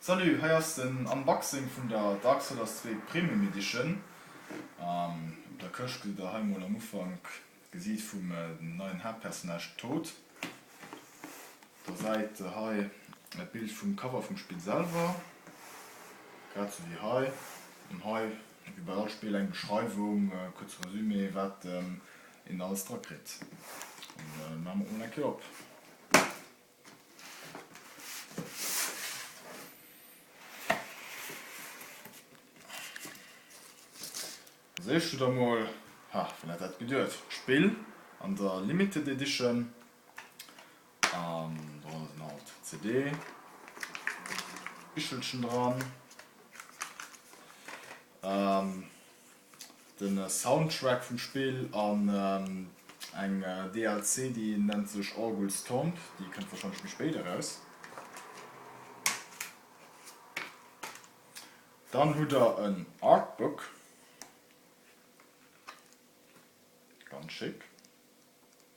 Salut, hei ass den Unboxing vun der Dark Solars 2 Premium Edition. Op der Këscht gesitt der hei mol am Ufank d'Gesiit vum neien Haaptpersonnage Toad. Op der Säit hei e Bild vum Cover vum Spill selwer, grad sou wéi hei. An hei, wéi bei all Spill, eng Beschreiwung, e kuerze Resumé, wat een alles dra kritt. Maache mer et mol eng Kéier op. Als éischt hutt der mol, ha wien hätt dat geduet, d'Spill an der Limited Edition an do ass en alt CD Bichelchen dran. den Soundtrack vum Spill an eng DLC déi nennt sech Orgul's Tomb, déi kënnt warscheinlech méi spéit eraus. Dann hutt der en Artbook, ganz schéck.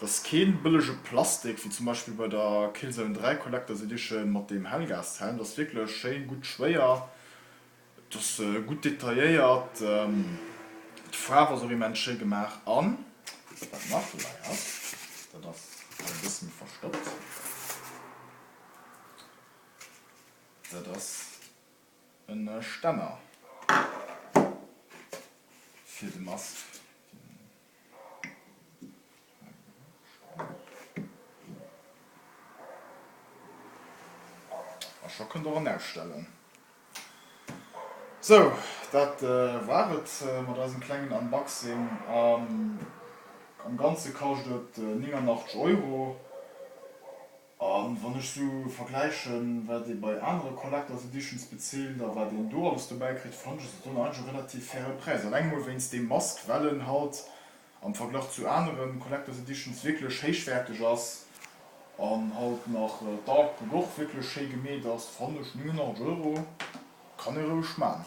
dass keen bëllege Plastik, wéi zum Beispill bei der Killzone 3 Collectors Edition mat deem Hellgashelm, dass wierklech schéin gutt schwéier, dass gutt detailléiert, d'Faarf ass och immens schéi gemaach an wat nach dobäi ass, dat ass hei e bësse méi verstoppt, dat ass e Stänner fir de Masque. A scho kënnt och en ausstellen. Sou, dat war et mat eisem klengen Unboxing. Am Ganze kascht et 89 Euro. A wann ech sou vergläichen, wat ee bei anere Collectors Editions bezilt a wat een do alles dobäi kritt, fannen ech se dann eigentlech e relativ faire Präis. Alleng mol wéinst deem Mask, well en halt am Verglach zu anere Collectors Editions wierklech héichwäerteg ass an halt nach d'Artbook och wierklech schéi gemeet ass, fannen ech 89 Euro kann ee roueg man.